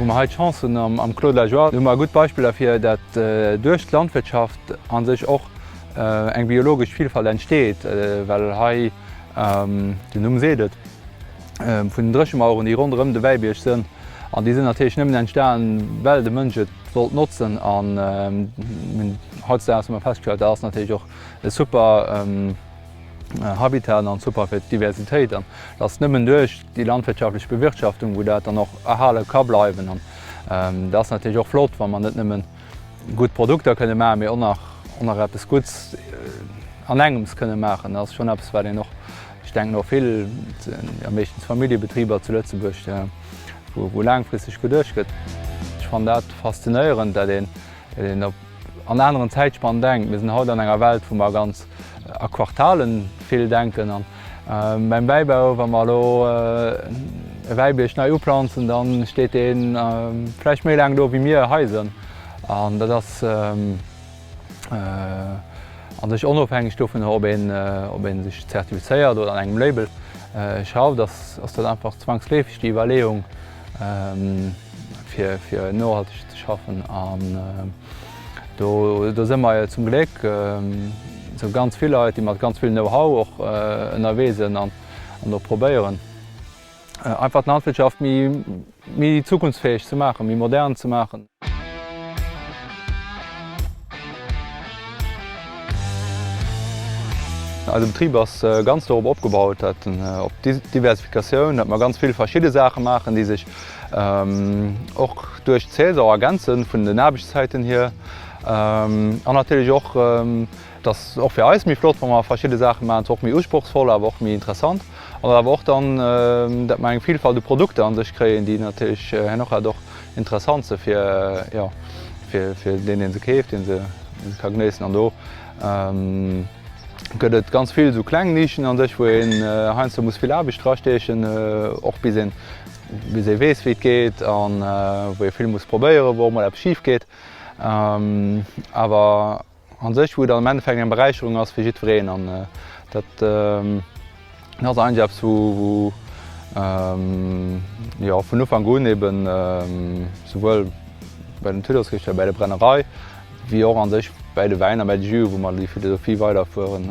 Wou mer hei d'Chance hunn am Claude Lajoie, do hu mer e gutt Beispill derfir, datt duerch d'Landwirtschaft a sech och eng biologesch Vilfalt entsteet, well hei, den Numm seet et, vun den Dréchemaueren, déi ronderëm de Wäibierg sënn. An déi sënn natierlech nëmmen entstanen, well de Mënsch et wollt notzen. An hautzedaags hu mer festgestallt, dat ass natierlech och e super Habitat an super fir d'Diversitéit. An et ass nëmmen duerch déi landwirtschaftlech Bewirtschaftung, wou dat dann och erhale ka bleiwen. An dat ass natierlech och flott, wa mer net nëmmen gutt Produkter kënne maachen, mee och nach eppes Gutts an engems kënne maachen. Dat ass schonn eppes, wat een och Ech denken och vill, jo meeschtens Familljebetriber zu Lëtzebuerg, wou laangfristeg geduecht gëtt. Ech fannen dat faszinéierend, datt een op an aneren Zäitspannen denkt. Mir sinn haut an enger Welt, wou mer ganz a Quartale vill denken. An beim Wäibau, wa mer elo e Wäibierg nei uplanzen, da steet dee vläicht méi laang do wéi mir Haiser. An dat ass. an sech onofhängeg dovun, ob ee sech zertifizéiert oder an engem Label schafft, ass dat einfach zwangsleefeg déi Iwwerleeung fir nohalteg ze schaffen. An do si mer jo zum Gléck esou ganz vill Leit, déi mat ganz vill Know-how och ënnerwee sinn an och probéieren, Einfach d'Landwirtschaft méi zukunftsfäeg ze maachen, méi modern ze maachen. Eise Betrib ass ganz dorop opgebaut, dat op Diversifikatioun, dat mer ganz vill verschidde Saache maachen, déi sech och duerch d'Saison ergänzen, vun den Aarbechtszäiten hier an natierlech och Et ass och fir eis méi flott, wa mer verschidde Saache maachen, zwar och méi usprochsvoll, awer och méi interessant, an et awer och dann, dat mer eng Vielfalt u Produkter an sech kréien, déi natierlech herno och grad och interessant se fir, jo, fir deen, dee se keeft, dee se ka genéissen. An do gëtt et ganz vill esou kleng Nischen an sech, wou een heiansdo muss vill Aarbecht drasteechen, och bis een, bis ee weess, wéi et geet, a wou ee vill muss probéieren, wou och mol eppes schif geet, awer. an sech, wou et am Endeffekt eng Beräicherung ass fir jiddwereen an dat ass eigentlech eppes, wou jo vun Ufank un eben souwuel bei den Tuddlesrichter, bei der Brennerei, wéi och an sech bäi de Wäiner, bäi de Juse, wou mer déi Philosophie weiderfueren.